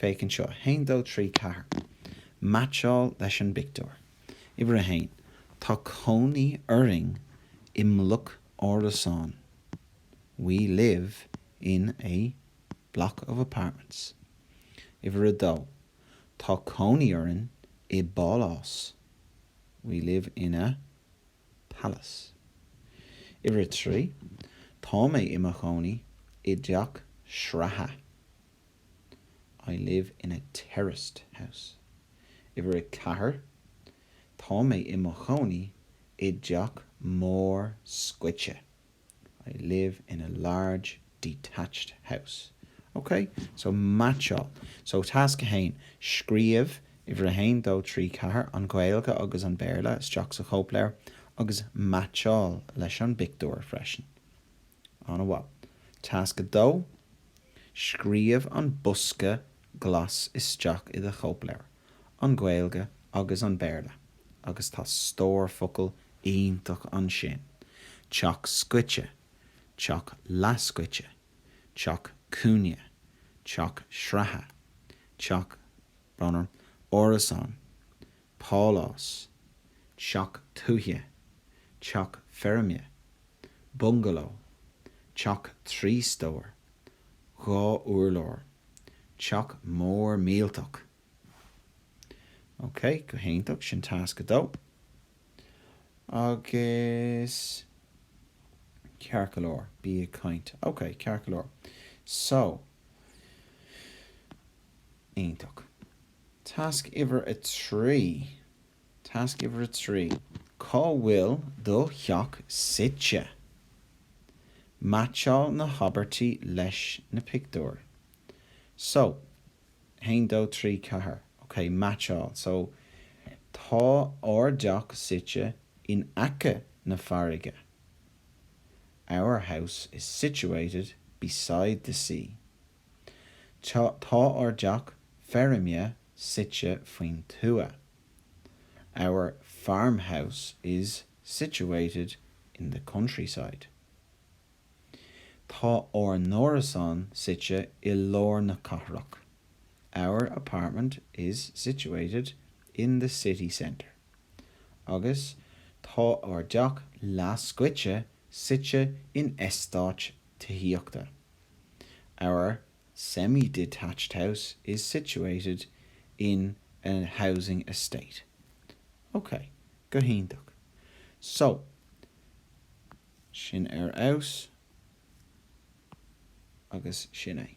Féach anseo 1 2 3 4. Meaitseáil leis an bpictiúr. Uimhir 1, Tá cónaí orainn i mbloc árasán We live in a block of apartments. Uimhir 2, Tá cónaí orainn i bpálás We live in a palace. Uimhir 3, Tá mé i mo chónaí i dteach sraithe. I live in a terraced house. Uimhir a ceathair, Tá mé i mo chónaí i dteach mór scoite. I live in a large detached house. Ok? So, meaitseáil. So, tasc a haon, Scríobh uimhir a haon, dó, trí, ceathair, an Ghaeilge agus an Béarla, isteach sa chóipleabhar agus meaitseáil leis an bpictiúr freisin. An-mhaith. Tasc 2, Scríobh an bosca glas isteach i do chóipleabhar, an Ghaeilge agus an Béarla, agus tá stór focal iontach ansin, teach scoite, teach leathscoite, teach cúinne, teach sraithe, teach bun sraithe, árasán, pálás, teach tuaithe, teach feirme. bungaló, teach trí stór, dhá úrlár, teach mór millteach. Ok, go hiontach, sin tasc a dó. Agus, ceart go leor, bí ag caint. Ok, ceart go leor. So, iontach. Tasc uimhir a trí. Tasc uimhir a trí, Cá bhfuil do theach suite? Meaitseáil na habairtí leis na pictiúir. So, haon dó trí ceathair. Ok, meaitseáil. So, Tá ár dteach suite in aice na farraige. Our house is situated beside the sea. Tá ár dteach feirme suite faoin tuath Our farmhouse is situated in the countryside. Tá ár n-árasán suite i lár na cathrach Our apartment is situated in the city centre. Agus Tá ár dteach leathscoite suite in eastáit tithíochta. Our semi-detached house is situated in a housing estate. Ok, go hiontach. So, sin ar fheabhas, agus sin é.